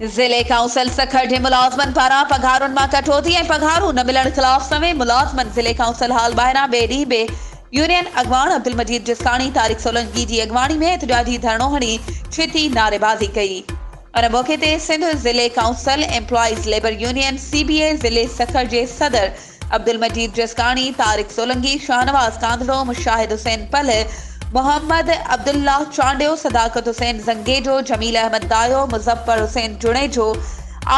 ضلعي ڪائونسل سکر جي ملازمن پاران پگهارن مان ڪٽوتي ۽ پگهارون نه ملڻ خلاف سوين ملازمن ضلعي ڪائونسل هال ٻاهران ٻئي ڏينهن به يونين اڳواڻ عبدالمجيد جسڪاڻي طارق سولنگي جي اڳواڻي ۾ احتجاجي ڌرڻو هڻي ڇتي نعريبازي ڪئي ان موقعي تي سنڌ ضلعي council employees labour union C B A ضلعي سکر جي صدر عبدالمجيد جسڪاڻي، طارق سولنگي، شاهنواز ڪانڌڙو، مشاهد حسين پلهه، محمد عبدالله چانڊيو، صداقت حسين زنگيجو، جميل احمد دايو، مظفر حسين جوڻيجو،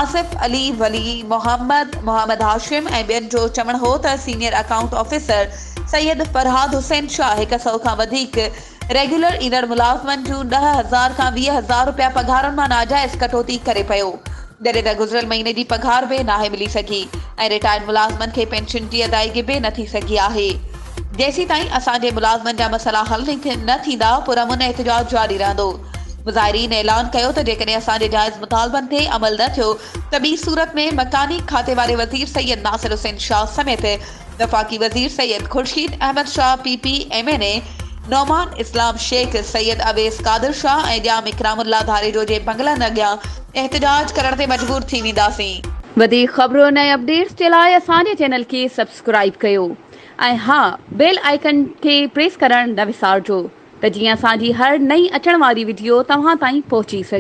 آصف علي ولي محمد، محمد هاشم ۽ ٻين جو چوڻ هو ته senior account officer Syed Farhad Hussain Shah هڪ سئو کان وڌيڪ ريگيولر ايندڙ ملازمن جون ڏهه هزار کان ويهه هزار رپيا پگهارن مان ناجائز ڪٽوتي ڪري پيو، جڏهن ته گذريل مهيني جي پگهار به ناهي ملي سگهي ۽ رٽائرڊ ملازمن کي پينشن جي ادائيگي به نه ٿي سگهي آهي، جيسيتائين اسان جي ملازمن جا مسئلا حل نه ٿيندا پرامن احتجاج جاري رهندو، مظاهرين اعلان ڪيو ته جيڪڏهن اسان جي جائز مطالبن تي عمل نه ٿيو ته ٻي صورت ۾ مڪاني کاتي واري وزير سيد ناصر حسين شاهه سميت وفاقي وزير Syed Khurshid Ahmed Shah, P P, M N A Nauman Islam Shaikh, Syed Awais Qadir Shah ۽ Jam Ikram Ullah Dharejo جي بنگلن اڳيان احتجاج ڪرڻ تي مجبور ٿي وينداسين. وڌيڪ خبرن ۽ اپڊيٽس جي لاء اسان جي چينل کي سبسڪرائيب ڪيو ۽ ها بيل آئيڪن کي پريس ڪرڻ نه وسارجو ته جيئن اسان جي هر نئين اچڻ واري وڊيو توهان تائين پهچي سگهي.